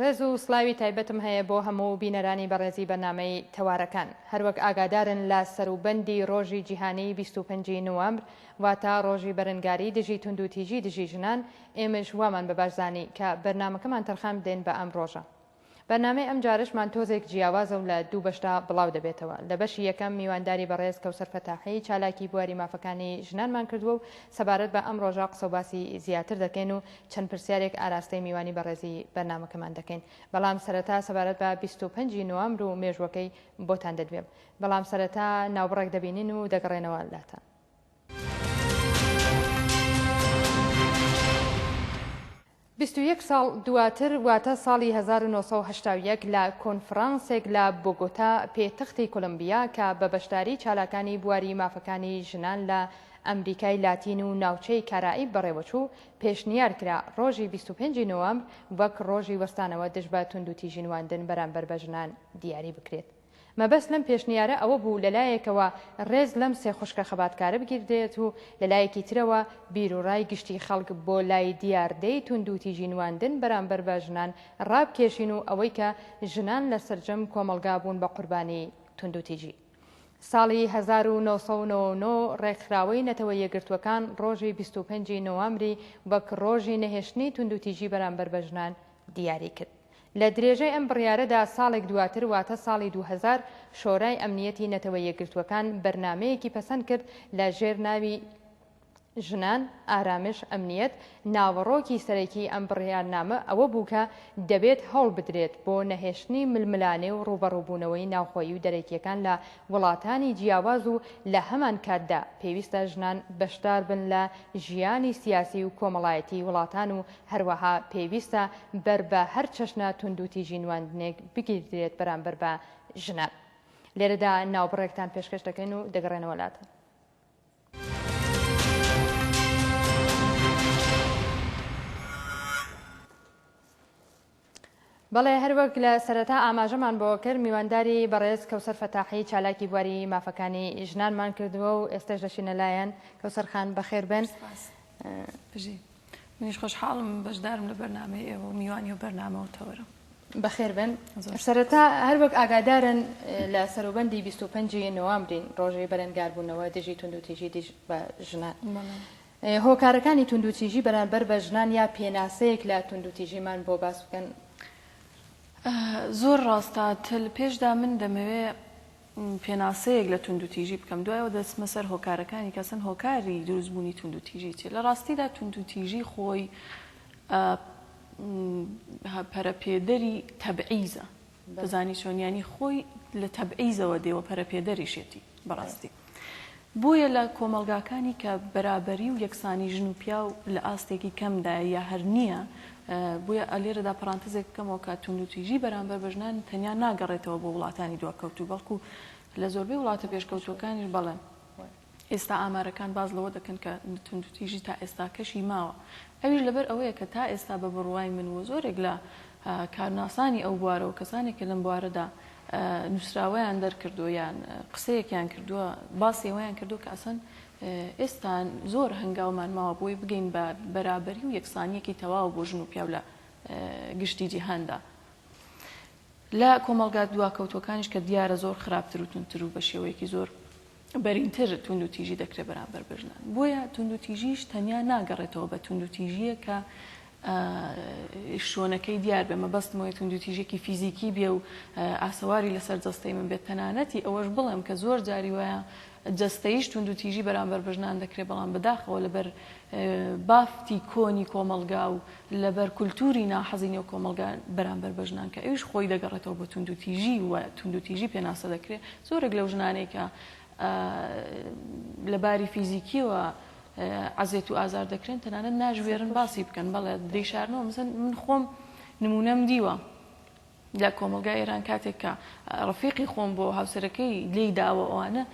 ڕێز و سڵاوی تایبەتم هەیە بۆ هەموو بینەرانی بەڕێزی بەرنامەی تەوارەکان. هەروەک ئاگادارن لە سەروبەندی ڕۆژی جیهانیی بیست و پەنج ی نوامبر واتە ڕۆژی بەرەنگاری دژی توندوتیژی دژی ژنان ئێمەش وامان بە باش زانی کە بەرنامەکەمان تەرخان بدەین بە ئەم ڕۆژە. بەرنامەی ئەمجارەشمان تۆزێک جیاوازە و لە دوو بەشدا بڵاو دەبێتەوە. لە بەشی یەکەم میوانداری بەڕێز کەوسەر فەتاحی چالاکی بواری مافەکانی ژنانمان کردووە و سەبارەت بە ئەم ڕۆژە قسەوباسی زیاتر دەکەین و چەند پرسیارێک ئاراستەی میوانی بەڕێزی بەرنامەکەمان دەکەین بەڵام سەرەتا سەبارەت بە 25 ی نۆامبر و مێژوەکەی بۆتان دەدوێم بەڵام سەرەتا ناوبڕێک دەبینین و دەگەڕێنەوە لاتان. بیست و یەک ساڵ دواتر واتە ساڵی 1970 لە کۆنفرانسێک لە بۆگۆتا پێتەختی کۆلمبیا کە بە بەشداری چالاکانی بواری مافەکانی ژنان لە ئەمریکای لاتین و ناوچەی کارائیب بەڕێوەچوو پێشنیار کرا ڕۆژی بیست و پێنج نۆەمبر وەک ڕۆژی وەستانەوە دژ بە توندوتیژی نواندن بەرامبەر بە ژنان دیاری بکرێت. مەبەست لەم پێشنیارە ئەوە بوو لە لایەکەوە ڕێز لەم سێ خوشکە خەباتکارە بگیردرێت و لە لایەکی ترەوە بیروڕای گشتی خەڵک بۆ لای دیاردەی توندوتیژی نواندن بەرامبەر بە ژنان ڕابکێشین و ئەوەی کە ژنان لە سەرجەم کۆمەڵگا بوون بە قوربانی توندوتیژی ساڵی هەزار و نۆ سەد و نەوە و نۆ ڕێکخراوەی نەتەوە یەکگرتووەکان ڕۆژی بیست و پێنج ی نۆامری وەک ڕۆژی نەهێشتنی توندوتیژی بەرامبەر بە ژنان دیاری کرد. لە درێژەی ئەم بڕیارەدا ساڵێک دواتر واتە ساڵی دوو هەزار شۆرای ئەمنییەتی نەتەوە یەکگرتووەکان بەرنامەیەکی پەسەند کرد لە ژێر ناوی ژنان، ئارامش، ئەمنیەت، ناوەڕۆکی سەرەکیی ئەم بڕیارنامە ئەوە بوو کە دەبێت هەوڵ بدرێت بۆ نەهێشتنی ململانێ و ڕووبەڕووبوونەوەی ناوخۆیی و دەرەکییەکان لە وڵاتانی جیاواز و لە هەمانکاتدا پێویستە ژنان بەشدار بن لە ژیانی سیاسی و کۆمەڵایەتیی وڵاتان و هەروەها پێویستە بەر بە هەر چەشنە توندوتیژی نواندنێک بگیردرێت بەرامبەر بە ژنان. لێرەدا ناوبڕێکتان پێشکەش دەکەین و دەگەڕێنەوە لاتان. بەڵێ هەروەک لە سەرەتا ئاماژەمان بۆ کرد میوانداری بەڕێز کەوسەر فەتاحی چالاکی بواری مافەکانی ژنانمان کردووە و ئێستش دەشینە لایەن کەوسەرخان بەخێر بن بژی منیش خۆشحاڵم بەشدارم لە بەرنمەی ئێوە و میوانی و بەرنامە و تەوەرم بەخێر بێن سەرەتا هەر وەک ئاگادارن لە سەروبەندی 25 نوامبرین ڕۆژەی بەرەنگاربوونەوە دژی توندوتیژی دژ بە ژنان هۆکارەکانی توندوتیژی بەرامبەر بە ژنان یا پێناسەیەک لە توندوتیژیمان بۆ باس بکەن زۆر ڕاستە تل پێشدا من دەمەوێ پێناسەیەک لە توندوتیژی بکەم دوای ئەوە دەچمە سەر هۆکارەکانی کە ئەسڵەن هۆکاری دروست بوونی توندوتیژی چیە لە ڕاستیدا توندوتیژی خۆی پەرەپێدەری تەبعیزە دەزانی چۆنیانی خۆی لە تەبعیزەوە دێوە پەرەپێدەریشێتی بەڕاستی بۆیە لە کۆمەڵگاکانی کە بەرابەری و یەکسانی ژن و پیاو لە ئاستێکی کەمدایە یا هەر نییە، بۆیە لێرەدا پەڕانتزێک بکەمەوە کە توندوتیژی بەرامبەر بە ژنان تەنیا ناگەڕێتەوە بۆ وڵاتانی دواکەوتوو، بەڵکو لە زۆربەی وڵاتە پێشکەوتووەکانیش بەڵێ ئێستا ئامارەکان باس لەوە دەکەن کە توندوتیژی تا ئێستاکەشی ماوە، ئەویش لەبەر ئەوەیە کە تا ئێستا بە بڕوای من و زۆرێک لە کارناسانی ئەو بوارە و کەسانێک کە لەم بوارەدا نووسراوەیان دەرکردووە یان قسەیەکیان کردووە باسی ئەوەیان کردووە کە ئەسەن ئێستا زۆر هەنگاومان ماوە بۆی بگەین بە بەرابەری و یەکسانیەکی تەواو بۆ ژن و پیاو لە گشتی جیهاندا لە کۆمەڵگات دواکەوتوەکانیش کە دیارە زۆر خراپتر و تونتر و بە شێوەیەکی زۆر بەرینتر توندوتیژی دەکرێت بەرامبەر بە ژنان، بۆیە توندوتیژیش تەنیا ناگەڕێتەوە بە توندوتیژییەک کە شۆنەکەی دیار بێ، مەبەستم ئەوەیە توندوتیژێکی فیزیکی بێ و ئاسەواری لەسەر جەستەی من بێت، تەنانەتی ئەوەش بڵێم کە زۆر جاری وایە جەستەییش توندوتیژی بەرامبەر بە ژنان دەکرێت، بەڵام بەداخەوە لەبەر بافتی کۆنی کۆمەڵگا و لەبەر کولتووری ناحەزی نێو کۆمەڵگا بەرامبەر بە ژنان کە ئەویش خۆی دەگەڕێتەوە بۆ توندوتیژی و توندوتیژی پێناسە دەکرێت، زۆرێک لەو ژنانەی کە لە باری فیزیکیەوە عەزێت و ئازار دەکرێن تەنانەت ناژوێرن باسی بکەن بەڵێ دەیشارنەوە مزن من خۆم نمونەم دیوە لە کۆمەلگای ئێران کاتێک کە ڕفیقی خۆم بۆ هاوسەرەکەی لی داوە ئەوانە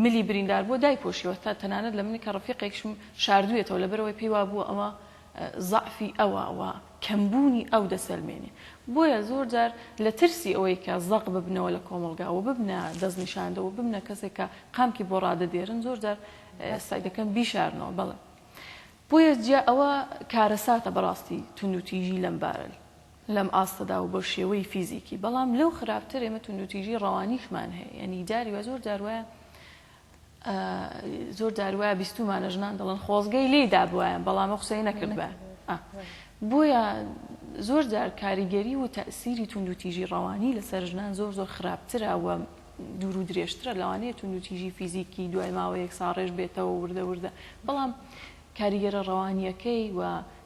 ملی بریندار بۆ دای پۆشیوە تا تەنانەت لە منی کە ڕفیقێکشم شاردوێتەوە لەبەرەوەی پێیوا بووە ئەوە زەعفی ئەوە و کەمبوونی ئەو دەسەلمێنێ. بۆیە زۆر جار لە ترسی ئەوەی کە زەق ببنەوە لە کۆمەڵگا و ببنە دەستنیشاندە و ببنە کەسێک کە قامکی بۆ ڕادەدێرن، زۆر جار سەعی دەکەن بیشارنەوە. بەڵێ. بۆیە جیا ئەوە کارەساتە بەڕاستی توندوتیژی لەم بارە لەم ئاستەدا و بە شێوەی فیزیکی. بەڵام لەو خراپتر ئێمە توندوتیژی ڕەوانیشمان هەیە. یانی جاری وا زۆر جار وایە. زۆر جار وایە بیستوومانە ژنان دەڵێن خۆزگەی لێی دابوایە بەڵام ئەو قسەی نەکردبە بۆیە زۆر جار کاریگەری و تەسیری توندوتیژی ڕەوانی لەسەر ژنان زۆر زۆر خراپترە و دوور و درێژترە لەوانەیە توندوتیژی فیزیکی دوای ماوەیەک ساڕێژ بێتەوە وردە وردە بەڵام کاریگەرە ڕەوانییەکەی و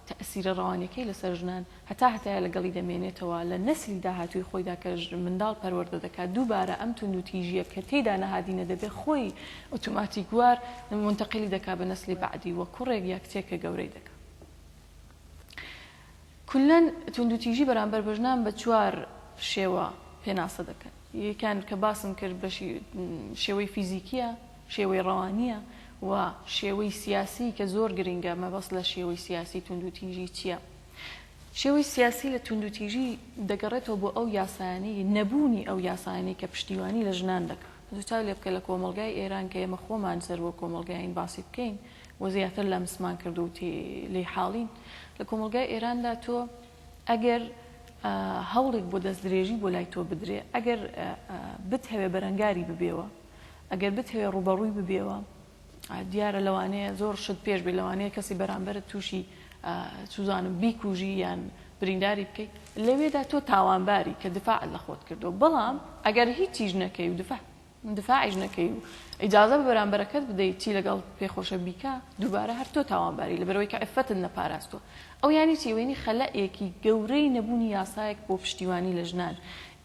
تەئسیرە ڕەوانییەکەی لەسەر ژنان هەتا هەتایە لەگەڵی دەمێنێتەوە لە نەسلی داهاتووی خۆیدا کە منداڵ پەروەردە دەکات دووبارە ئەم توندوتیژییە کە تێیدا نەهادینە دەبێت خۆی ئۆتۆماتیکوار مونتەقیلی دەکات بە نەسلی بەعدی و کوڕێک یا کچێکە گەورەی دەکات کولەن توندوتیژی بەرامبەر بە ژنان بە چوار شێوە پێناسە دەکەن یەکیان کە باسم کرد بەشی شێوەی فیزیکییە شێوەی ڕەوانییە و شێوەی سیاسی کە زۆر گرنگە، مەبەست لە شێوەی سیاسی توندوتیژی چییە؟ شێوەی سیاسی لە توندوتیژی دەگەڕێتەوە بۆ ئەو یاسایانەی، نەبوونی ئەو یاسایانەی کە پشتیوانی لە ژنان دەکا. تۆ چاو لێ بکە لە کۆمەڵگای ئێران کە ئێمە خۆمان سەر وەک کۆمەڵگایین باسی بکەین و زیاتر لەمسمان کردووە و تێی لێی حاڵین، لە کۆمەڵگای ئێراندا تۆ ئەگەر هەوڵێک بۆ دەستدرێژی بۆ لای تۆ بدرێ، ئەگەر بتهەوێ بەرەنگاری ببێوە، ئەگەر بتەوێ ڕووبەڕووی ببیەوە دیارە لەوانەیە زۆر شت پێش بێ لەوانەیە کەسی بەرامبەرت تووشی چوزانم بیکوژی یان برینداری بکەیت لەوێدا تۆ تاوانباری کە دفاع لە خۆت کردو بەڵام ئەگەر هیچیش نەکەی و دفاع دفاعیش نەکەی و ئیجازە بە بەرامبەرەکەت بدەیت چی لەگەڵ پێخۆشە بیکە دووبارە هەر تۆ تاوانباری لەبەرەوەی کە عفەتت نەپاراستوە ئەو یانی چی؟ ئەوە یانی خەلایەکی گەورەی نەبوونی یاسایەک بۆ پشتیوانی لە ژنان.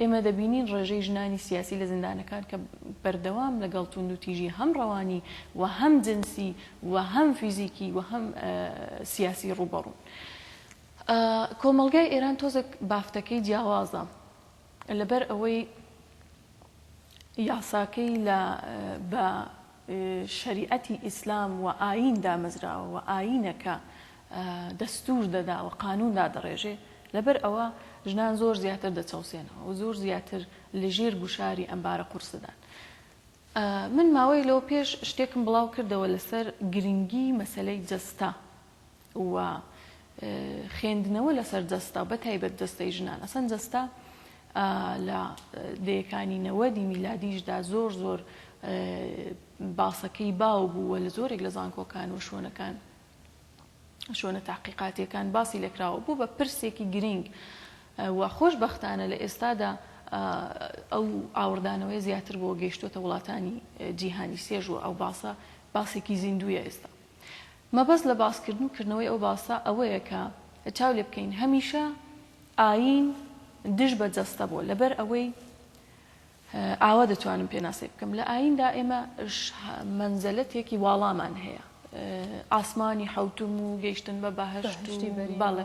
ئێمە دەبینین ڕێژەی ژنانی سیاسی لە زیندانەکان کە بەردەوام لەگەڵ توندوتیژی هەم ڕەوانی و هەم جنسی و هەم فیزیکی و هەم سیاسی ڕووبەڕوون. کۆمەڵگای ئێران تۆزێک بافتەکەی جیاوازە. لەبەر ئەوەی یاساکەی لە بە شەریعەتی ئیسلام و ئایین دامەزراوە و ئایینە کە دەستوور دەدا و قانوون دادەڕێژێ، لەبەر ئەوە ژنان زۆر زیاتر دەچەوسێنەوە و زۆر زیاتر لە ژێر گوشاری ئەم بارە قورسەدان. من ماوەیەک لەوە پێش شتێکم بڵاو کردەوە لەسەر گرنگی مەسەلەی جەستە و خێندنەوە لەسەر جەستە بە تایبەت جەستەی ژنان ئەسەن جەستە لە دەیەکانی نەوەدی میلادیشدا زۆر زۆر باسەکەی باو بووە لە زۆرێک لە زانکۆکان و شوێنەکان شوێنە تاقیقاتیەکان باسی لەکراوە بوو بە پرسێکی گرنگ و خۆشببختانە لە ئێستادا ئەو ئاوردانەوەی زیاتر بۆ گەیشتوتە وڵاتانی جیهانی سێژوە ئەو باسە باسێکی زیندویە ئێستا مەبەست لە باسکردن و کردنەوەی ئەو باسە ئەوەیە کە چاو لێ بکەین هەمیشە ئایین دژ بە جەستە بووە لەبەر ئەوەی ئاوا دەتوانم پێناسەی بکەم لە ئاییندا ئێمە مەنزەلەتێکی واڵامان هەیە ئاسمانی حەوتوم و گەیشتن بە بەهشتی بەڵێ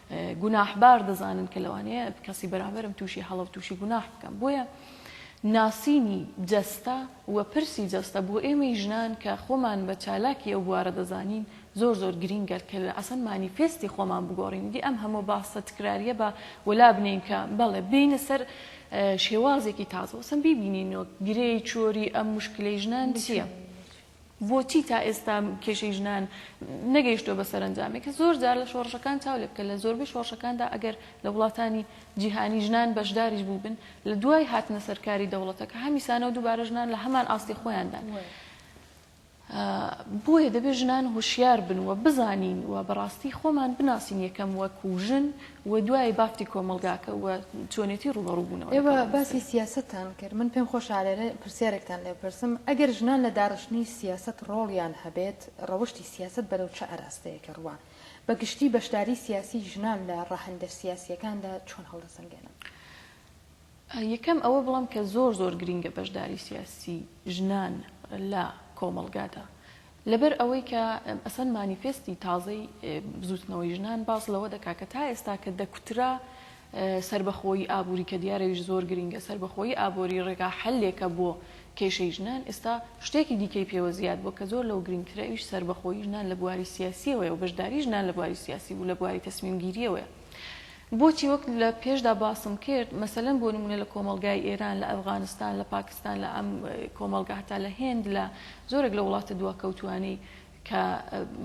گوناحبار دەزانن کە لەوانەیە کەسی بەرامبەرم تووشی هەڵە و تووشی گوناح بکەم بۆیە ناسینی جەستە و پرسی جەستە بۆ ئێمەی ژنان کە خۆمان بە چالاکی ئەو بوارە دەزانین زۆر زۆر گرینگە کە لە ئەسەن مانیفێستی خۆمان بگۆڕین دی ئەم هەموو باسە تکراریە بە وەلا بنین کە بەڵێ بینە سەر شێوازێکی تازەوەسم بیبینینەوە گرێی چۆری ئەم مشکلی ژنان چییە؟ بۆچی تا ئێستا کێشەی ژنان نەگەیشتووە بە سەرەنجامێک؟ زۆر جار لە شۆڕشەکان چاو لێ بکە، لە زۆربەی شۆڕشەکاندا ئەگەر لە وڵاتانی جیهانی ژنان بەشداریش بووبن، لە دوای هاتنە سەر کاری دەوڵەتەکە هەمیسانە و دووبارە ژنان لە هەمان ئاستی خۆیاندان. بۆیە دەبێ ژنان هۆشیار بن و بزانین و بەڕاستی خۆمان بناسین یەکەم وەکوو ژن و دوای بافتی کۆمەڵگاکە و چۆنێتی ڕووبەڕوو بوونەوە لەگەڵ ئێوە باسی مەسەلەکە. سیاسەتتان کرد، من پێم خۆشە لێرە پرسیارێکتان لێ بپرسم، ئەگەر ژنان لە داڕشتنی سیاسەت ڕۆڵیان هەبێت، ڕەوشتی سیاسەت بەرەو چ ئاراستەیەک ڕوا؟ بە گشتی بەشداری سیاسی ژنان لە ڕەهەندە سیاسییەکاندا چۆن هەڵدەسەنگێنن؟ یەکەم ئەوە بڵێم کە زۆر زۆر گرینگە بەشداری سیاسی ژنان لە کۆمەڵگادا لەبەر ئەوەی کە ئەسەن مانیفێستی تازەی بزوتنەوەی ژنان باس لەوە دەکا کە تا ئێستا کە دەکوترا سربەخۆی ئابووری کە دیارەویش زۆر گرینگە سربەخۆی ئابووری ڕێگا حلێکە بۆ کێشەی ژنان ئێستا شتێکی دیکەی پێوە زیاد بۆ کە زۆر لەو گرینگترە ئەویش سربەخۆی ژنان لە بواری سیاسیەوەی و بەشداری ژنان لە بواری سیاسی بوو لە بواری تەسمیمگیریەوەیە بۆچی وەک لە پێشدا باسم کرد مەسەلەن بۆ نموونە لە کۆمەڵگای ئێران، لە ئەفغانستان، لە پاکستان، لە ئەم کۆمەڵگا هەتا لە هێند لە زۆرێک لە وڵاتە دواکەوتووانەی کە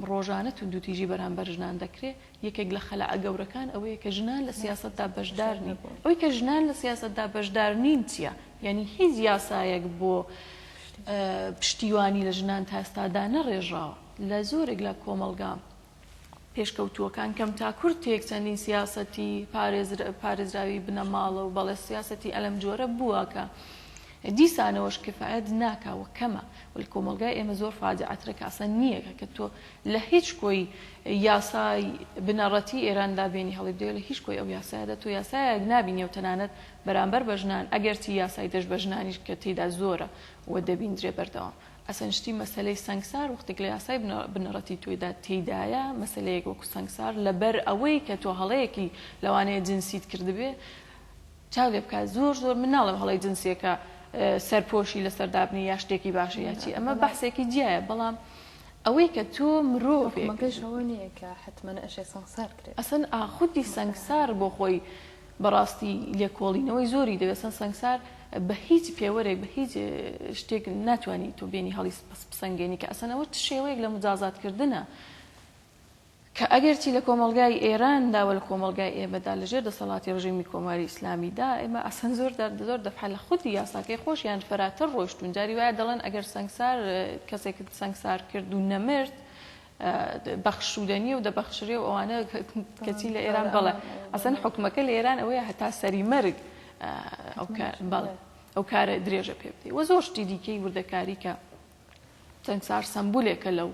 ڕۆژانە توندوتیژی بەرامبەر ژنان دەکرێ، یەکێک لە خەلەعە گەورەکان ئەوەیە کە ژنان لە سیاسەتدا بەشدار نین. ئەوەی کە ژنان لە سیاسەتدا بەشدار نین چییە؟ یانی هیچ یاسایەک بۆ پشتیوانی لە ژنان تا ئێستا دانەڕێژراوە. لە زۆرێک لە کۆمەڵگا پێشکەوتووەکان کەم تا کورتێک چەندین سیاسەتی پارێزراوی بنەماڵە و بەڵێ سیاسەتی ئەلەم جۆرە بووە کە دیسانەوەش کفایەت ناکا و کەمە و لە کۆمەلگای ئێمە زۆر فاجعەترە کە ئەسڵەن نییە کە تۆ لە هیچ کۆی یاسای بنەڕەتی ئێراندا بێنی هەڵی بدەیە لە هیچ کۆی ئەو یاسایەدا تۆ یاسایەک نابینی و تەنانەت بەرامبەر بە ژنان ئەگەرچی یاسای دەش بە ژنانیش کە تێیدا زۆرە و دەبیندرێ بەردەوام ئەسەن شتی مەسەلەی سەنگسار وەختێک لە یاسای بنەڕەتی تۆیدا تێیدایە مەسەلەیەک وەکو سەنگسار لەبەر ئەوەی کە تۆ هەڵەیەکی لەوانەیە جنسیت کردبێ چاو لێ بکات زۆر زۆر من ناڵێم هەڵەی جنسیەکە سەرپۆشی لەسەر دابنی یا شتێکی باشە یا چی ئەمە بەحسێکی جیایە بەڵام ئەوەی کە تۆ مرۆڤێکەکەشەوە نییە کە حتممە ئەشێ سەنگسار کرێت ئەسن ئاخودی سەنگسار بۆ خۆی بەڕاستی لێکۆڵینەوەی زۆری دەوێت سەن سەنگسار بە هیچ پێوەرێک بە هیچ شتێک ناتوانی تۆ بێنی هەڵی بسەنگێنی کە ئەسەن ئەوە چ شێوەیەک لە مجازات کردنە کە ئەگەرچی لە کۆمەڵگای ئێراندا و لە کۆمەڵگای ئێمەدا لە ژێر دەسەڵاتی ڕژێمی کۆماری ئیسلامیدا ئێمە ئەسەن زۆر زۆر دەفعە لە خودی یاساکەی خۆشیان فراتر ڕۆشتون جاری وایە دەڵێن ئەگەر سەنگسار کەسێکت سەنگسار کرد و نەمرد بەخشودە نیە و دەبەخشرێ و ئەوانە کەچی لە ئێران بەڵێ ئەسەن حکومەکە لە ئێران ئەوەیە هەتا سەری مەرگ بەڵێ ئەو کارە درێژە پێ بدەی وە زۆر شتی دیکەی وردەکاریکە چەند سار سمبولێکە لەو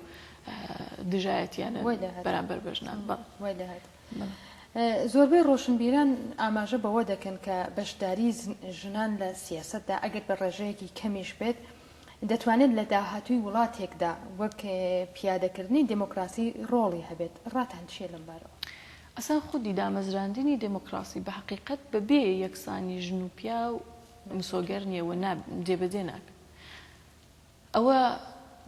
دژایەتیانە بەرامبەر بەژنان بەڵ زۆربەی ڕۆشنبیران ئاماژە بەوە دەکەن کە بەشداری ژنان لە سیاسەتدا ئەگەر بە ڕێژەیەکی کەمیش بێت دەتوانێت لە داهاتووی وڵاتێکدا وەک پیادەکردنی دموکراسی ڕۆڵی هەبێت ڕاتان چیە لەم بارەوە؟ ئەسڵەن خودی دامەزراندنی دموکراسی بە هەقیقەت بە بێ یەکسانی ژن و پیاو مسۆگەر نیە و جێبەجێ ناکرێت. ئەوە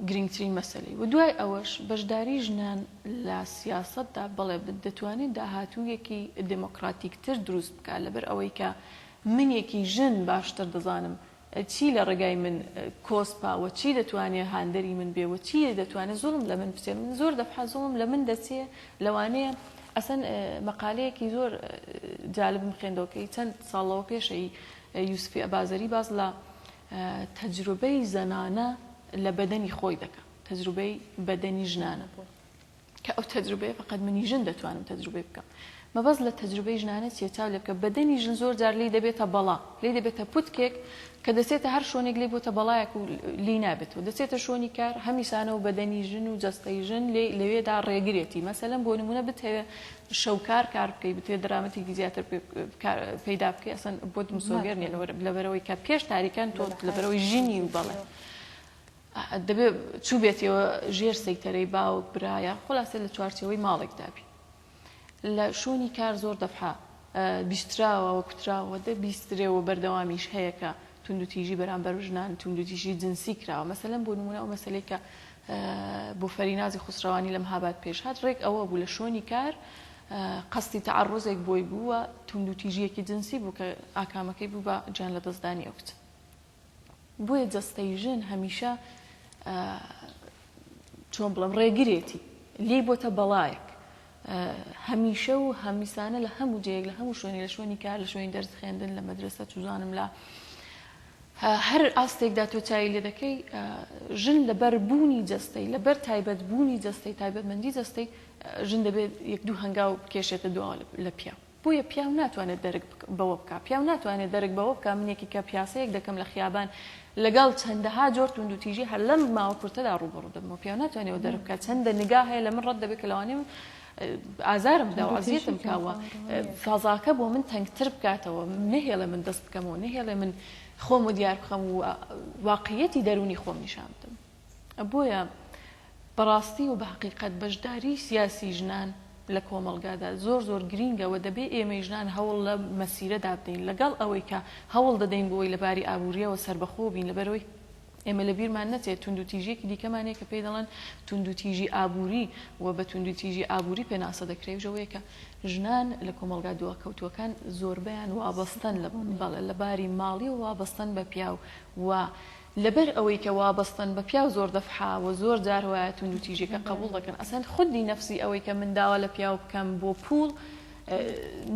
گرنگترین مەسەلەی و دوای ئەوەش بەشداری ژنان لە سیاسەتدا بەڵێ دەتوانێت داهاتوویەکی دێمۆکڕاتیکتر دروست بکات لەبەر ئەوەی کە منێکی ژن باشتر دەزانم چی لە ڕێگای من کۆسپە و چی دەتوانێت هاندەری من بێ و چی دەتوانێت زوڵم لە من بچێت من زۆر دەفحە زوڵم لە من دەچێت لەوانەیە ئەسەن مەقالەیەکی زۆر جالبم خوێندەوە کەی چەند ساڵەوە پێشەی یوسفی ئەبازەری باس لە تەجروبەی زەنانە لە بەدەنی خۆی دەکا تەجروبەی بەدەنی ژنانە بۆ کە ئەو تەجروبەیە فقط منی ژن دەتوانم تەجروبەی بکەم مەبەست لە تەجروبەی ژنانە چیە چاو لێبکە بەدەنی ژن زۆر جار لی دەبێتە بەڵا لی دەبێتە پوتکێک کە دەچێتە هەر شوێنێک لی بۆتە بەڵایەک و لی نابێت و دەچێتە شوێنی کار هەمیسانە و بەدەنی ژن و جەستەی ژن لێ لەوێدا ڕێگرێتی مەسەلەن بۆ نمونە بتەوێ شەوکار کار بکەی بتوێ درامەتێکی زیاتر پەیدا بکەی ئەسن بۆت مسۆگەر نیە لەبەرەوەی کە پێش تاریکان تۆ لەبەرەوەی ژینی و بەڵێ دەبێ چوو بێتەوە ژێر سەیتەرەی باوک برایە خلاصە لە چوارچەوەی ماڵێک دابی لە شوێنی کار زۆر دەفحا بیستراوەوە کوتراوە دە بیسترێەوە بەردەوامیش هەیەکە توندوتیژی بەرامبەر ژنان توندوتیژی جنسی کراوە مەسەلەن بۆ نمونە ئەو مەسلەی کە بۆ فەرینازی خوسرەوانی لە مهاباد پێش هات، ڕێک ئەوە بوو لە شوێنی کار قەستی تەعەڕوزێک بۆی بوو و توندوتیژییەکی جنسی بوو کە ئاکامەکەی بوو بە گیان لەدەستدانی ئەو کچە. بۆیە جەستەی ژن هەمیشە چۆن بڵێم ڕێگرێتی، لێی بۆتە بەڵایەک، هەمیشە و هەمیسانە لە هەموو جێیەک لە هەموو شوێنی لە شوێنی کار لە شوێنی دەرس خوێندن لە مەدرسە چوزانم لە هەر ئاستێکدا تۆ چاوی لێ دەکەی ژن لەبەر بوونی جەستەی لەبەر تایبەت بوونی جەستەی تایبەتمەندی جەستەی ژن دەبێت یەک دوو هەنگاو بکێشێتە دو لە پیا بۆیە پیاو ناتوانێت دەرک بەوە بکا پیاو ناتوانێت دەرک بەوە بکا منێکی کە پیاسەیەک دەکەم لە خیابان لەگەڵ چەندەها جۆر توندوتیژی هەر لەم ماوە کورتەدا ڕووبەڕوو دەبمەوە پیاو ناتوانێت ئەوە دەرک بکا چەندە نگا هەیە لە من ڕەت دەبێت کە لەوانەیە من ئازارم بدا و عەزیەتم کا و فەزاکە بۆ من تەنگتر بکاتەوە نەهێڵێ من دەست بکەمەوە نەهێڵێ من خۆم و دیار بخەم و واقعیەتی دەروونی خۆم نیشان بدەم بۆیە بە ڕاستی و بە هەقیقەت بەشداریی سیاسیی ژنان لە کۆمەڵگادا زۆر زۆر گرینگە و دەبێ ئێمەی ژنان هەوڵ لە مەسیرەدا بدەین لەگەڵ ئەوەی کە هەوڵ دەدەین بۆی لە باری ئابوورییەوە سەربەخۆ بین لەبەرئەوەی ئێمە لە بیرمان نەچێت توندوتیژیەکی دیکەمان هەیە کە پێی دەڵێن توندوتیژی ئابووری و بە توندوتیژی ئابووری پێناسە دەکرێ ژەوەیە کە ژنان لە کۆمەڵگا دواکەوتووەکان زۆربەیان وابەستەن لە بەڵێ لە باری ماڵی و وابەستەن بە پیاو و لەبەر ئەوەی کە وابەستەن بە پیاو زۆر دەفحە وە زۆر جار وایە توندو تیژیەکە قەبوڵ دەکەن ئەسەن خودی نەفسی ئەوەی کە من داوا لە پیاو بکەم بۆ پوڵ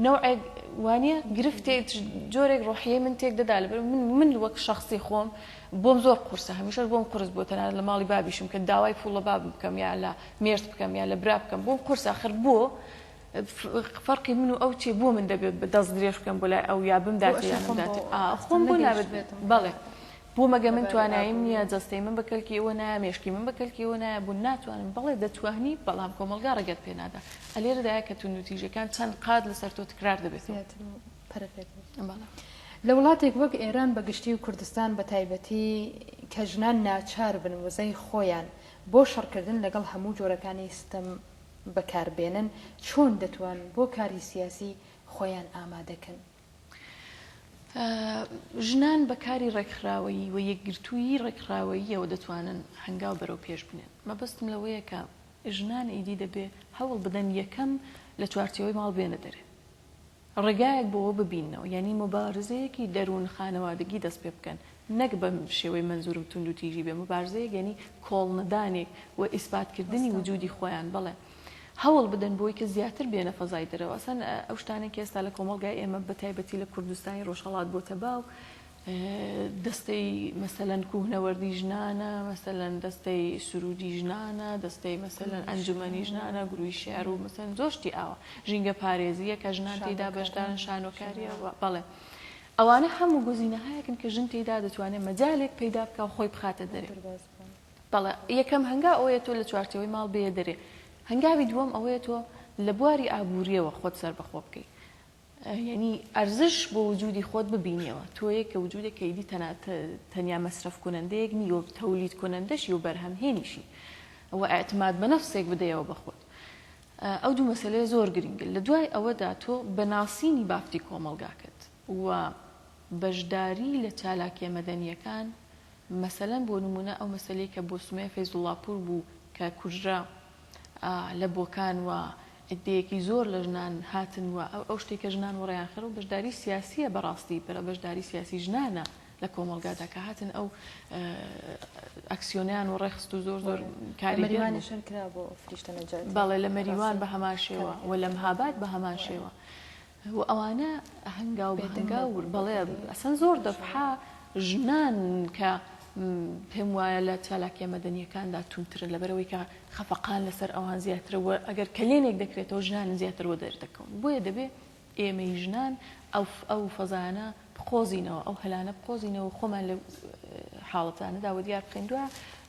نەوعێک وانە گرفتێ جۆرێک ڕۆحیەی من تێک دەدا لەبەر من من وەک شخصی خۆم بۆم زۆر قورسە هەمیشەش بۆم قرس بۆ تەنان لە ماڵی بابیشم کە داوای پوڵ لە بابم بکەم یا لە مێرد بکەم یا لە برا بکەم بۆم قورسە خر بۆ فەرقی من و ئەو چیە بۆ من دەبێت بە دەست درێژ بکەم بۆ لای ئەو یا بمداتێ یان نەمداتێ خۆم بۆ نابێت بێتم بەڵێ بۆ مەگە من توانایم نییە جەستەی من بە کەلکی ئەوە نایە مێشکی من بە کەلکی ئەوە نایە بوون ناتوانم بەڵێ دەتوانی بەڵام کۆمەلگا ڕێگەت پێ نادا ئەلێرەدایە کە تون و تیژەکان چەند قات لەسەر تۆ تکرار دەبێت پەرەپێت بەڵێ لە وڵاتێک وەک ئێران بە گشتی و کوردستان بە تایبەتی کە ژنان ناچار بن وزەی خۆیان بۆ شەڕکردن لەگەڵ هەموو جۆرەکانی ستەم بەکار بێنن چۆن دەتوان بۆ کاری سیاسی خۆیان ئامادە کەن؟ ژنان بە کاری ڕێکخراوەیی و یەکگرتوویی ڕێکخراوەییەوە دەتوانن هەنگاو بەرەو پێش بنێن. مەبەستم لەوەیە کە ژنان ئیدی دەبێ هەوڵ بدەن یەکەم لە چوارچێوەی ماڵ بێنە دەرێ. ڕێگایەک بۆوە ببیننەوە یانی موبارزەیەکی دەروون خانەوادگی دەست پێ بکەن نەک بەم شێوەی مەنزورم توندو تیژی بێ موبارزەیەک یانی کۆڵ نەدانێک و ئیسبات کردنی وجودی خۆیان بەڵێ هەوڵ بدەن بۆی کە زیاتر بێنە فەزای دەرەوە ئەسەن ئەو شتانەی کە ئێستا لە کۆمەڵگای ئێمە بە تایبەتی لە کوردستانی ڕۆژهەڵات بۆتە باو دەستەی مەسەلەن کوهنەوەردی ژنانە، مەسەلەن دەستەی سروودی ژنانە، دەستەی مەسەلەن ئەنجومەنی ژنانە، گرووی شیعر و مەسەلەن زۆر شتی ئاوا. ژینگە پارێزییە کە ژنان تێیدا بەشدارن، شانۆکارییە و. بەڵێ. ئەوانە هەموو گوزینەهایەکن کە ژن تێیدا دەتوانێت مەجالێک پەیدا بکا و خۆی بخاتە دەرێ. بەڵێ. یەکەم هەنگاو ئەوەیە تۆ لە چوارچێوەی ماڵ بێیە دەرێ. هەنگاوی دووەم ئەوەیە تۆ لە بواری ئابوورییەوە خۆت سەربەخۆ بکەی. یەنی ئەرزش بۆ وجودی خۆت ببینیەوە تۆیەک کە وجودێک کە ئیدی تەنا تەنیا مەسرەف کونەندەیەک نی و تەولید کونەندەشی و بەرهەم هێنیشی و ئەعتماد بە نەفسێک بدەیەوە بە خۆت ئەو دوو مەسەلەیە زۆر گرینگن لە دوای ئەوەدا تۆ بە ناسینی بافتی کۆمەڵگاکەت و بەشداری لە چالاکیە مەدەنیەکان مەسەلەن بۆ نمونە ئەو مەسەلەی کە بۆ سومەیە فەیزوڵاپور بوو کە کوژرا لە بۆکان وە عدەیەکی زۆر لە ژنان هاتن وە ئەو شتەی کە ژنان وەڕێیان خرا و بەشداری سیاسیە بەڕاستی بەرە بەشداری سیاسی ژنانە لە کۆمەڵگادا کە هاتن ئەو ئەکسیۆنیان و ڕێخست و زۆر زۆر کاریوانشن کرا بۆ فریشتە نەجات بەڵێ لە مەریوان بە هەمان شێوە و لەم هابات بە هەمان شێوە و ئەوانە هەنگاو بە هەنگاو بێدەنگە بەڵێ ئەسڵەن زۆر دەفحا ژنان کە پێم وایە لە چالاکیە مەدەنیەکاندا توندترن لەبەرئەوەی کە خەفەقان لەسەر ئەوان زیاترە وە ئەگەر کەلێنێک دەکرێتەوە ژنانن زیاتر وە دەردەکەون بۆیە دەبێ ئێمەی ژنان ئەو ئەو فەزایانە بقۆزینەوە ئەو هەلانە بقۆزینەوە خۆمان لە حاڵەتانەدا وە دیار بخەین دووە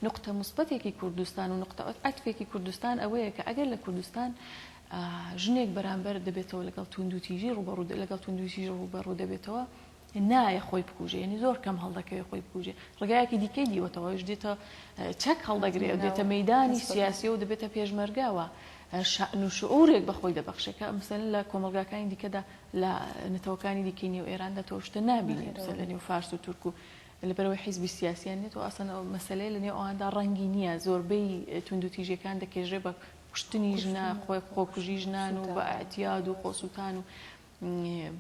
نقطە مثبتێکی کوردستان و نقطە عەتفێکی کوردستان ئەوەیە کە ئەگەر لە کوردستان ژنێک بەرامبەر دەبێتەوە لەگەڵ توندوتیژی ڕوبەڕوو لەگەڵ توندوتیژی ڕوبەڕوو دەبێتەوە نایە خۆی بکوژێ ینی زۆر کەم هەڵدەکەوێت خۆی بکوژێ ڕگایەکی دیکەی دیوەتەوەش دێتە چەک هەڵدەگرێت دێتە مەدانی سیاسی و دەبێتە پێشمەرگاوە شعن و شعورێک بەخۆی دەبەخشێکە ئەمسەن لە کۆمەلگاکانی دیکەدا لە نەتەوەکانی دیکەی نێو ئێراندا تۆشتە نبینێت لە نێو فارس و تورک و لەبەرەوەی حیزبی سیاسیان نێت و ئاسان ئەو مەسلەیە لە نێو ئەواندا ڕەنگی نییە زۆربەی توندوتیژەکان دەکێژێ بە کوشتنی ژنان، خۆکوژی ژنان و بە ئەعتیاد و خۆسووتان و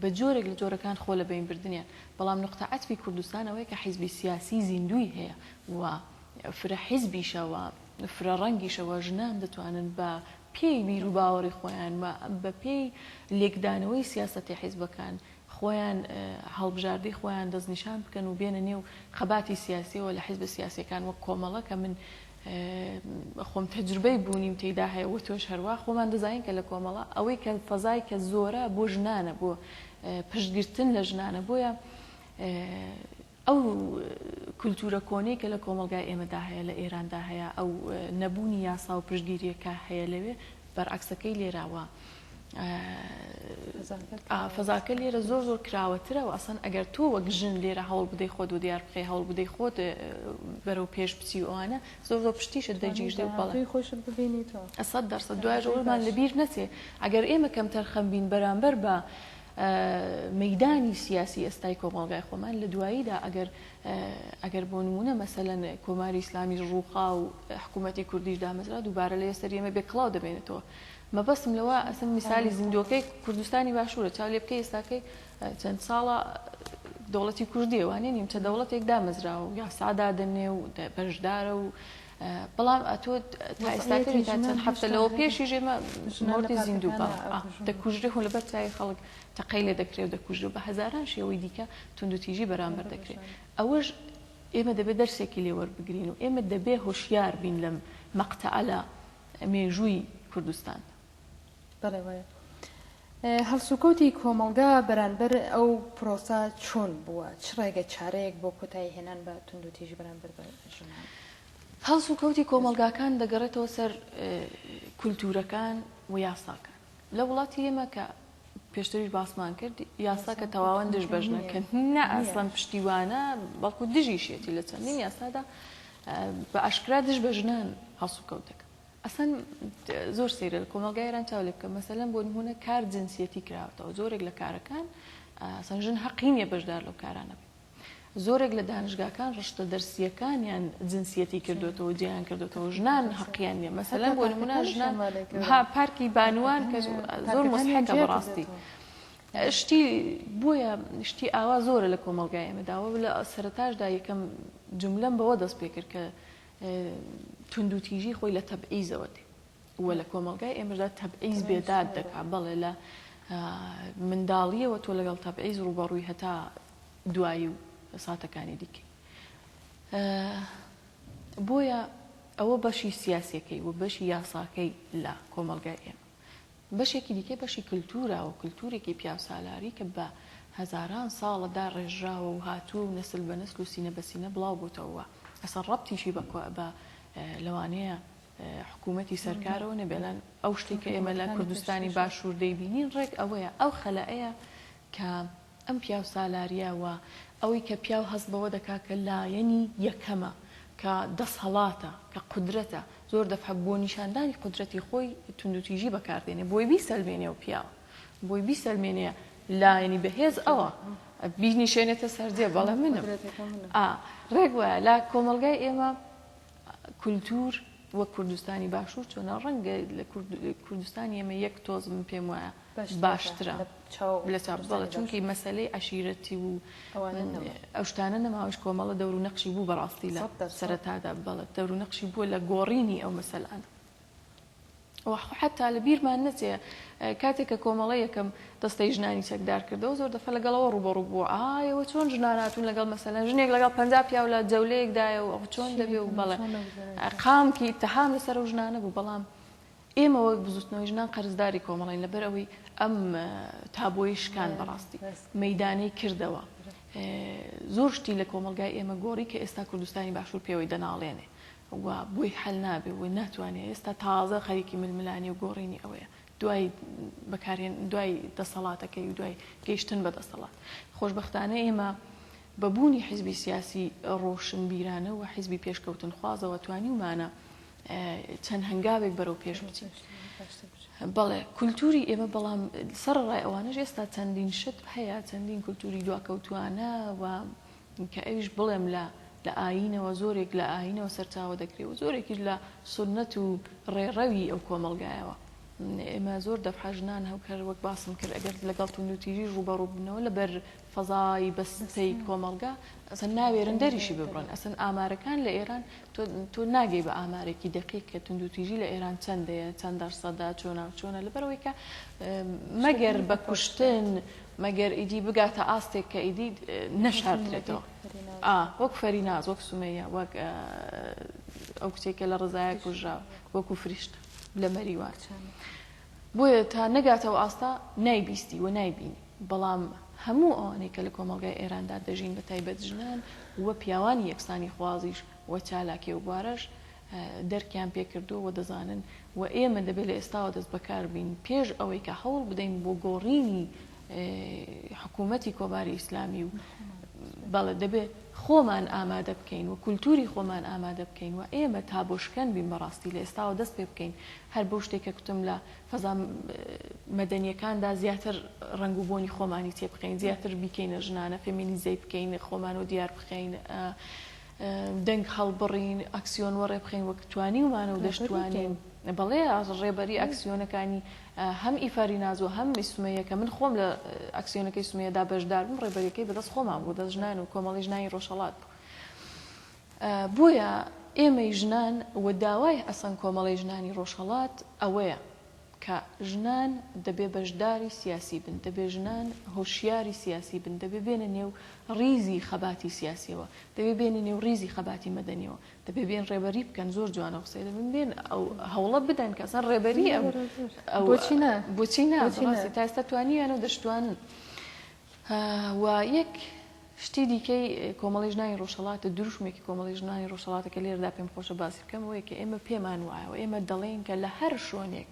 بە جۆرێک لە جۆرەکان خۆ لە بەین بردنیان، بەڵام نوقتە عەتفی کوردستان ئەوەیە کە حیزبی سیاسی زیندووی هەیە و فرە حیزبیشە و فرە ڕەنگیشە و ژنان دەتوانن بە پێی بیروباوەڕی خۆیان و بە پێی لێکدانەوەی سیاسەتی حیزبەکان خۆیان هەڵبژاردەی خۆیان دەستنیشان بکەن و بێنە نێو خەباتی سیاسیەوە لە حیزبە سیاسیەکان وەک کۆمەڵە کە من خۆم تەجروبەی بوونیم تێیدا هەیە و تۆش هەروا خۆمان دەزانین کە لە کۆمەڵە ئەوەی کە فەزای کە زۆرە بۆ ژنانە بۆ پشتگرتن لە ژنانە بۆیە ئەو کولتوورە کۆنەی کە لە کۆمەڵگای ئێمەدا هەیە، لە ئێراندا هەیە، ئەو نەبوونی یاسا و پشتگیرییە کە هەیە لەوێ، بەرعەکسەکەی لێرە و فەزاکە لێرە زۆر زۆر کراوەترە و ئەسەن ئەگەر تۆ وەک ژن لێرە هەوڵ بدەی خۆت و دیار بخەی هەوڵ بدەی خۆت بەرەو پێش بچی ئەوانە زۆر زۆر پشتیشت دەگیرێ و بەڵی خۆشت ببینیتەوە ئەسەد دەرسە دوای ڕۆژمان لەبیر نەچێ ئەگەر ئێمە کەم تەرخەم بین بەرامبەر بە مەیدانی سیاسی ئێستای کۆمەڵگای خۆمان لە دواییدا ئەگەر ئەگەر بۆ نمونە مەسەلەن کۆماری ئیسلامی ڕووخا و حکوومەتی کوردیش دامەزرا دووبارە لە سەر ئێمە بێ کڵاو دەبێنێتەوە مەبەستم لەوە ئەسم میسالی زیندۆکەی کوردستانی باشوورە چاو لێ بکەی ئێستاکەی چەند ساڵە دەوڵەتی کوردیوانێ نیمچە دەوڵەتێک دامەزراوە و یاسادادنێ و بەشدارە و بەڵام ئەتۆ تا ئێستاکە تا چەند هەفتە لەوە پێشیش ئێمە مردی زیندوو بە دەکوژرێ هو لەبەر چاوی خەڵک تەقەی لێ دەکرێت و دەکوژرێ بە هەزاران شێوەی دیکە توندوتیژی بەرامبەر دەکرێت ئەوەش ئێمە دەبێت دەرسێکی لێوە بگرین و ئێمە دەبێ هۆشیار بین لەم مەقتەعەلە مێژووی کوردستان بەڵێ وایە. هەڵسوکەوتی کۆمەڵگا بەرانبەر ئەو پرۆسە چۆن بووە چ ڕێگە چارەیەک بۆ کۆتایی هێنان بە توندوتیژی بەرانبەر بە ژنان؟ هەڵسوکەوتی کۆمەڵگاکان دەگەڕێتەوە سەر کولتوورەکان و یاساکان لە وڵاتی ئێمە کە پێشتریش باسمان کرد یاسا کە تەواوەن دژ بەژنەکە نە ئاسڵەن پشتیوانە بەڵکو دژیشێتی لە چەندین یاسادا بە ئاشکرا دژ بە ژنان هەڵسوکەوت دەکەن ئەسڵەن زۆر سەیرە لە کۆمەڵگای ئێران چاو لێبکە مەسەلەن بۆ نموونە کار جنسیەتی کراوەتەوە زۆرێک لە کارەکان ئەسڵەن ژن هەقی نییە بەشدار لەو کارانە بێت زۆرێک لە دانشگاکان ڕشتە دەرسیەکانیان جنسیەتی کردوێتەوە جیان کردوێتەوە ژنان هەقییان نیە مەسەلەن بۆ نمونە ژنان پارکی بانوان کە زۆر مۆسحەکە بەڕاستی. شتی بۆیە شتی ئاوا زۆرە لە کۆمەلگای ئێمەداوە لە سەرتاشدا یەکەم جملەم بەوە دەست پێکرد کە توندوتیژی خۆی لە تەبعیزەوە دێ و لە کۆمەلگای ئێمەدا تەبعیز بێداد دەکا بەڵێ لە منداڵیەوە تۆ لەگەڵ تەبعیز ڕوبەڕووی هەتا دوایی و ساتەکانی دیکە بۆیە ئەوە بەشی سیاسەکەی و بەشی یاساکەی لە کۆمەلگای ئێمە بەشێکی دیکەی بەشی کلتورە و کلتورێکی پیاوسالاری کە بە هەزاران ساڵە داڕێژراوە و هاتووە و نەسل بە نەسل و سینە بە سینە بڵاو بووتەوە و ئەسڵەن ڕەبتیشی بە بە لەوانەیە حکوومەتی سەرکارەوە نەبێ ئەلان ئەو شتەی کە ئێمە لە کوردستانی باشوور دەیبینین ڕێک ئەوەیە ئەو خەلایە کە ئەم پیاو سالاریە و ئەوەی کە پیاو هەست بەوە دەکا کە لایەنی یەکەمە، کە دەسهەڵاتە، کە قودرەتە، زۆر دەفعە بۆ نیشاندانی قودرەتی خۆی توندوتیژی بەکار دێنێ بۆی بیسەلمێنێ و پیاو بۆی بیسەلمێنێ لایەنی بەهێز ئەوە بینیشێنێتە سەرجێ بەڵێ منم. ئا ڕێک وایە لە کۆمەڵگای ئێمە کولتور وەک کوردستانی باشور چۆنە ڕەنگە لە کوردستانی ئێمە یەک تۆز من پێم وایە باشترە لە چاپ بەڵە چونکی مەسلەی عشیرەتی و ئەو شتانە نەماوەش کۆمەڵە دەور و نەقشی بوو بەڕاستی لە سەرەتادا بەڵە دەور و نەقشی بووە لە گۆڕینی ئەو مەسەلانە و حەتا لە بیرمان نەچێ کاتێک کە کۆمەڵە یەکەم دەستەی ژنانی چەکدار کردەوە زۆر دەفە لەگەڵەوە ڕوبەڕوو بووە ئایەوە چۆن ژناناتون لەگەڵ مەسەلەن ژنێک لەگەڵ پ پیاو لە جەولەیەکدایە و چۆن دەبێ و بەڵێ قامکی تەهام لەسەر و ژنانە بوو بەڵام ئێمە وەک بزوتنەوەی ژنان قەرزداری کۆمەڵین لەبەر ئەوەی ئەم تابۆی شکان بەڕاستی مەدانی کردەوە زۆر شتی لە کۆمەلگای ئێمە گۆڕی کە ئێستا کوردستانی باشوور پێوەی دەناڵێنێ و بۆی حەل نابێ و ناتوانێ ئێستا تازە خەریکی ململانێ و گۆڕینی ئەوەیە دوای بەکارهێن دوای دەسەڵاتەکەی و دوای گەیشتن بە دەسەڵات خۆشببختانە ئێمە بە بوونی حیزبی سیاسی ڕۆشنبیرانە و حیزبی پێشکەوتن خوازەوە توانیومانە چەند هەنگاوێک بەرەو پێش بچین بەڵێ کولتوری ئێمە بەڵام سەر ڕای ئەوانش ئێستا چەندین شت هەیە چەندین کولتوری دواکەوتوانە و کە ئەویش بڵێم لە لە ئایینەوە زۆرێک لە ئایینەوە سەرچاوە دەگرێ و زۆرێکیش لە سوننەت و ڕێڕەوی ئەو کۆمەڵگایەوە. ئێمە زۆر دەفعە ژنان هەوک هەر وەک باسم کرد ئەگەر لەگەڵ توندوتیژیش ڕووبەڕوو ببنەوە لە بەر فەزای بەستەی کۆمەڵگا ئەسەن ناوێرن دەریشی ببڕن ئەسەن ئامارەکان لە ئێران تۆ ناگەی بە ئامارێکی دەقیق کە توندوتیژی لە ئێران چەندەیە چەند دەرسەدا چۆنا و چۆنە لەبەرەوەی کە مەگەر بە کوشتن مەگەر ئیدی بگاتە ئاستێک کە ئیدی نەشاردرێتەوە وەک فەریناز وەک سومەیە وەک ئەو کچێکە لە ڕزایە کوژرا وەکو فریشت لە مەریوان بۆیە تا نەگاتەوە ئاستا نایبیستی و نایبین بەڵام هەموو ئەوانەی کە لە کۆمەلگای ئێراندا دەژین بە تایبەت ژنان و پیاوانی یەکسانی خوازیش و چالاکێ و بوارەش دەرکیان پێکردووە و دەزانن و ئێمە دەبێت لە ئێستاوە دەست بەکار بین پێش ئەوەی کە هەوڵ بدەین بۆ گۆڕینی حکوومەتی کۆماری ئیسلامی و بەڵێ دەبێت خۆمان ئامادە بکەین و کولتوری خۆمان ئامادە بکەین و ئێمە تا بۆ شکەن بین بەڕاستی لە ئێستاوە دەست پێ بکەین هەر بەو شتێک کە کوتم لە فەزا مەدەنیەکاندا زیاتر ڕنگ و بۆنی خۆمانی تێ بخەین زیاتر بیکەینە ژنانە فێمینیزەی بکەین خۆمان و دیار بخەین دەنگ هەڵبڕین، ئەکسیۆن وەڕێ بخەین وەک توانیومانە و دەشتوانین. بەڵێ ڕێبەری ئەکسیۆنەکانی هەم ئیفاری ناز و هەم سمەیە کە من خۆم لە ئەکسیۆنەکەی سمەیەدا بەشدار بووم ڕێبەریەکەی بەدەست خۆمان بوو دەست ژنان و کۆمەڵی ژنانی ڕۆژهەڵات بوو. بۆیە ئێمەی ژنان و داوای ئەسەن کۆمەڵی ژنانی ڕۆژهەڵات ئەوەیە. کە ژنان دەبێ بەشداری سیاسی بن، دەبێ ژنان هۆشیاری سیاسی بن، دەبێ بێنە نێو ڕیزی خەباتی سیاسیەوە، دەبێ بێنە نێو ڕیزی خەباتی مەدەنیەوە، دەبێ بێن ڕێبەری بکەن، زۆر جوان ئەو قسەیە، دەبێ بێن ئەو هەوڵە بدەن کە ئەسڵەن ڕێبەری ئەم بۆچی نا، بۆچی نا، بەڕاستی تا ئێستا توانیویانە و دەشتوانن. و یەک شتی دیکەی کۆمەڵی ژنانی ڕۆژهەڵاتە، دروشمێکی کۆمەڵی ژنانی ڕۆژهەڵاتە کە لێرەدا پێم خۆشە باسی بکەم ئەوەیە کە ئێمە پێمان وایە و ئێمە دەڵێین کە لە هەر شۆنێک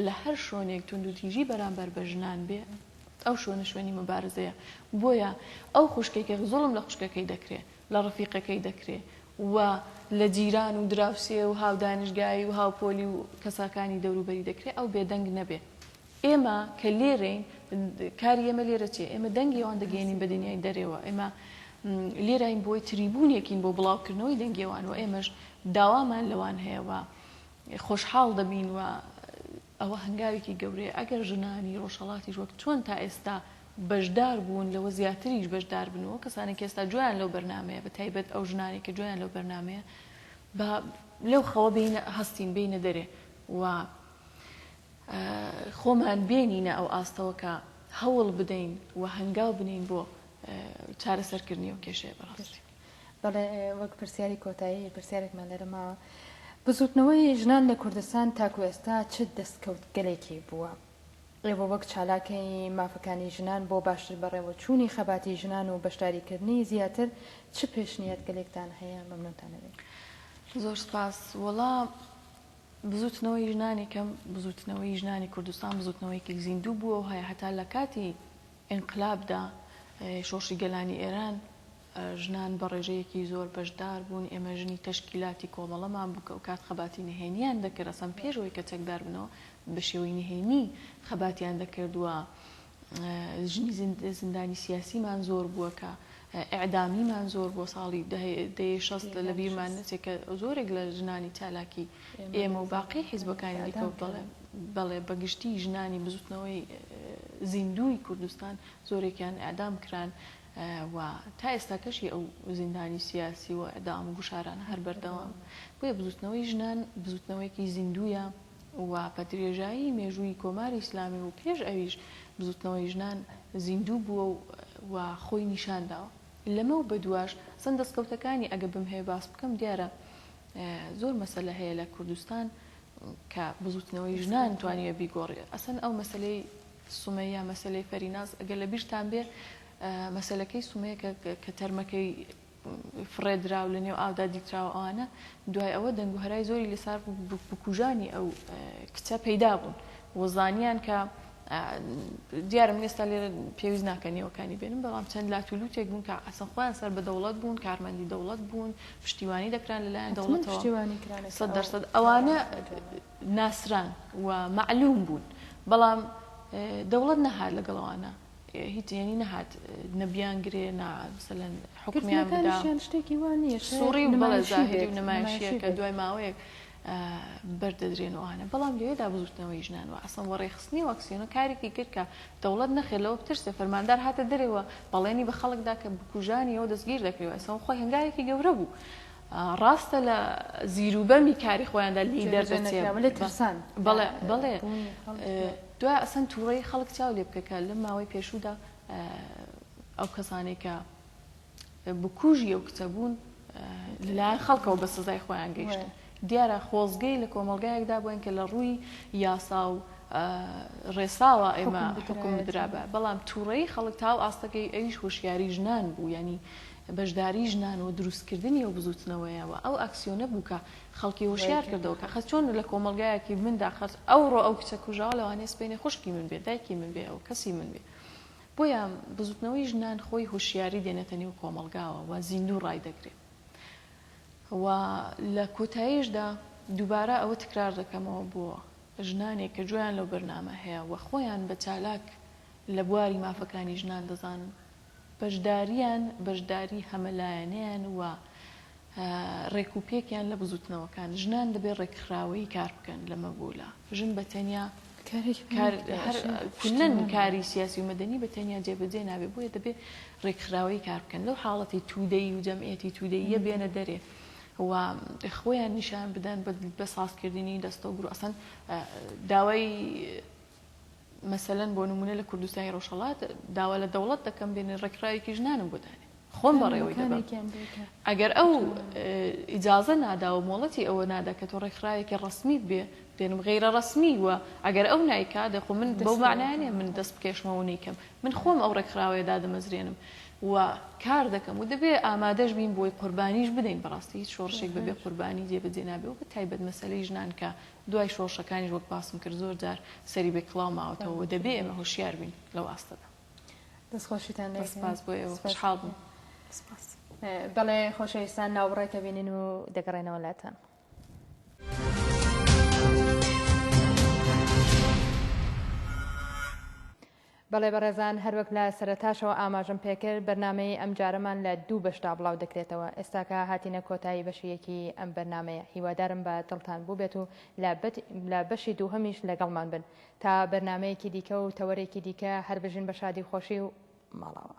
لە هەر شۆنێک توندوتیژی بەرامبەر بە ژنان بێ ئەو شوێنە شوێنی مبارزەیە بۆیە ئەو خوشکەی کە زوڵم لە خوشکەکەی دەکرێ لە ڕفیقەکەی دەکرێ و لە جیران و دراوسێ و هاودانیشگایی و هاوپۆلی و کەساکانی دەوروبەری دەکرێ ئەو بێدەنگ نەبێ ئێمە کە لێرەین کاری ئێمە لێرە چیە؟ ئێمە دەنگی ئەوان دەگەیەنین بە دنیای دەرەوە، ئێمە لێراین بۆی تریبونێکین بۆ بڵاوکردنەوەی دەنگی ئەوان و ئێمەش داوامان لەوان هەیە و خۆشحاڵ دەبین و ئەوە هەنگاوێکی گەورەیە ئەگەر ژنانی ڕۆژهەڵاتیش وەک چۆن تا ئێستا بەشدار بوون لەوە زیاتریش بەشدار بن و کەسانێک ئێستا گوێیان لەو بەرنامەیە بە تایبەت ئەو ژنانێک کە گوێیان لەو بەرنامەیە با لەو خەوە بینە هەستین بینە دەرێ و خۆمان بێنینە ئەو ئاستەوە کە هەوڵ بدەین و هەنگاو بنێین بۆ چارەسەرکردنی ئەو کێشەیە بەڕاستی. بەڵێ وەک پرسیاری کۆتایی پرسیارێکمان لێرە ماوە، بزووتنەوەی ژنان لە کوردستان تاکو ئێستا چ دەستکەوتگەلێکی بووە؟ ئێوە وەک چالاکەی مافەکانی ژنان بۆ باشتر بەڕێوەچوونی خەباتی ژنان و بەشداریکردنی زیاتر چ پێشنیاتگەلێکتان هەیە؟ مەمنونتان ئەبین. زۆر سپاس. وەڵا بزوتنەوەی ژنانی کەم، بزوتنەوەی ژنانی کوردستان بزوتنەوەیەکی زیندوو بووە و هەیە هەتا لە کاتی ئینقلابدا شۆڕشی گەلانی ئێران ژنان بە ڕێژەیەکی زۆر بەشدار بوون ئێمە ژنی تەشکیلاتی کۆمەڵەمان بوو کە ئەوکات خەباتی نهێنیان دەکرد ئەسڵەن پێش ئەوەی کە چەکدار بنەوە بە شێوەی نهێنی خەباتیان دەکرد و ژنی زیندانی سیاسیمان زۆر بووە کە ئەعدامیمان زۆر بۆ ساڵی دەیە شەست لە بیرمان نەچێت کە زۆرێک لە ژنانی چالاکی ئێمە و باقی حیزبەکانی دیکە بڵێ بەڵێ بەگشتی ژنانی بزوتنەوەی زیندوی کوردستان زۆرێکیان ئەدام کران و تا ئێستا کەشی ئەو زیندانی سیاسی و ئەدام و گوشاران هەر بەردەوام بۆیە بزوتنەوەی ژنان بزوتنەوەیەکی زیندویە و بە درێژایی مێژووی کۆماری ئیسلامی و پێش ئەویش بزووتنەوەی ژنان زیندوو بووە و خۆی نیشان داوە. لەمەو بەدواش ئەسڵەن دەستکەوتەکانی ئەگە بمهەوێ باس بکەم دیارە زۆر مەسەلە هەیە لە کوردستان کە بزووتنەوەی ژنان توانیوە بیگۆڕێ. ئەسڵەن ئەو مەسەلەی سومەیە، مەسەلەی فەریناز ئەگەر لەبیرتان بێ مەسەلەکەی سومەیە کە تەرمەکەی فڕێدراو لە نێو ئاودا دیتراوە ئەوانە دوای ئەوە دەنگ و هەرای زۆری لەسار بکوژانی ئەو کچە پەیدا بوون و زانیان کە دیارە من ئێستا لێرە پێویست ناکە نێوەکانی بێنم بەڵام چەند لاتولوتێک بوون کە ئەسن خۆیان سەر بە دەوڵەت بوون کارمەندی دەوڵەت بوون پشتیوانی دەکران لەلایەن دەوڵەتەوە سەد دەرسەد ئەوانە ناسران و معلوم بوون بەڵام دەوڵەت نەهار لەگەڵەوانە هیچ یەنی نەهات نە بیانگرێ نە مثلەن حکمیان بدا گرتنەکانیشیان شتێکی وا نییە شایەد سوڕی و بەڵێ نمایشی زاهیری و بێت نمایشیەکە نمایشی بێت دوای ماوەیەک آه، بەردەدرێن و ئەوانە بەڵام لەوێدا بزوتنەوەی ژنان و ئەسڵەن وەڕێخستنی و ئەکسیۆنە کارێکی کرد کە دەوڵەت نەخێر لەوە بترسێ فەرماندار هاتە دەرێ و بەڵێنی بە خەڵکدا کە بکوژانیەوە دەستگیر دەکرێ و ئەسڵەن خۆی هەنگاوێکی گەورە بوو ڕاستە لە زیروبەمی کاری خۆیاندا لی دەردەچێت بەڵێ دوای ئەسەن تووڕەی خەڵک چاو لێ بکە کە لەم ماوەی پێشوودا ئەو کەسانێک کە بکوژی ئەو کچە بوون لەلایەن خەڵکەوە بە سزای خۆیان گەیشتن دیارە خۆزگەی لە کۆمەلگایەکدا بووین کە لە ڕووی یاسا و ڕێساوە ئێمە حکم بدرابە بەڵام تووڕەی خەڵک تاو ئاستەکەی ئەویش هۆشیاری ژنان بوو ینی بەشداری ژنان و دروستکردنی ئەو بزووتنەوەیە و ئەو ئاکسیۆنە بوو کە خەڵکی هۆشیار کردەوە کە خەز چۆن لە کۆمەڵگایەکی مندا خەز ئەوڕۆ ئەو کچە کوژراوە لەوانەیە سبەینێ خوشکی من بێت، دایکی من بێت و کەسی من بێت. بۆیە بزووتنەوەی ژنان خۆی هۆشیاری دێنێتە نێو کۆمەڵگاوە و زیندوو ڕای دەگرێت و لە کۆتاییشدا دووبارە ئەوە تکرار دەکەمەوە بۆ ژنانێک کە گوێیان لەو بەرنامە هەیە و خۆیان بە چالاک لە بواری مافەکانی ژنان دەزانن، بەشدارییان، بەشداریی هەمەلایەنەیان و رێکوپێکیان لە بزووتنەوەکان، ژنان دەبێ رێکخراوەیی کار بکەن لە مەبولا، ژن بە تەنیا کارێکی کاری سیاسی و مەدەنی بە تەنیا جێبەجێ نابێ، بۆیە دەبێ رێکخراوەیی کار بکەن، لەو حاڵەتی توودەیی و جەمعیەتی توودەییە بێنە دەرێ و خۆیان نیشان بدەن بە سازکردنی دەستەو گروپ، ئەسڵەن داوای مەسەلەن بۆ نمونە لە کوردستانی ڕۆژهەڵات داوا لە دەوڵەت دەکەم بێنێ ڕێکخراوێکی ژنانم بۆ دانێ خۆم بەڕێوەی دەبەم ئەگەر ئەو ئیجازە نادا و مۆڵەتی ئەوە نادا کە تۆ ڕێکخراوێکی ڕسمیت بێ دێنم غیرە ڕسمی وە ئەگەر ئەو نایکا دەخۆ من بەو معناانێ من دەست بکێشمەوە نیکەم من خۆم ئەو ڕێکخراوەیە دادەمەزرێنم و کار دەکەم و دەبێ ئامادەش بین بۆی قوربانیش بدەین بەڕاستی هیچ شۆڕشێک بەبێ قوربانی جێبەجێ نابێ و بە تایبەت مەسەلەی ژنان کە دوای شۆڕشەکانیش وەک باسم کرد زۆر جار سەری بێ کڵاو ماوەتەوە و دەبێ ئێمە هۆشیار بین لەو ئاستەدا. دەست خۆشیتان لێ دەکەین. سپاس بۆ ئێوە. سپاس. خۆشحاڵ بووم. سپاس. بەڵێ خۆشەویستان ناوبڕێک ئەبینین و دەگەڕێنەوە لاتان. بەڵێ بەڕێزان هەروەک لە سەرەتاشەوە ئاماژەم پێکرد بەرنامەی ئەمجارەمان لە دوو بەشدا بڵاو دەکرێتەوە ئێستاکە هاتینە کۆتایی بەشی یەکی ئەم بەرنامەیە هیوادارم بە دڵتان بووبێت و لە بەشی دووهەمیش لەگەڵمان بن تا بەرنامەیەکی دیکە و تەوەرێکی دیکە هەربژین بە شادی و خۆشی و ماڵاوا.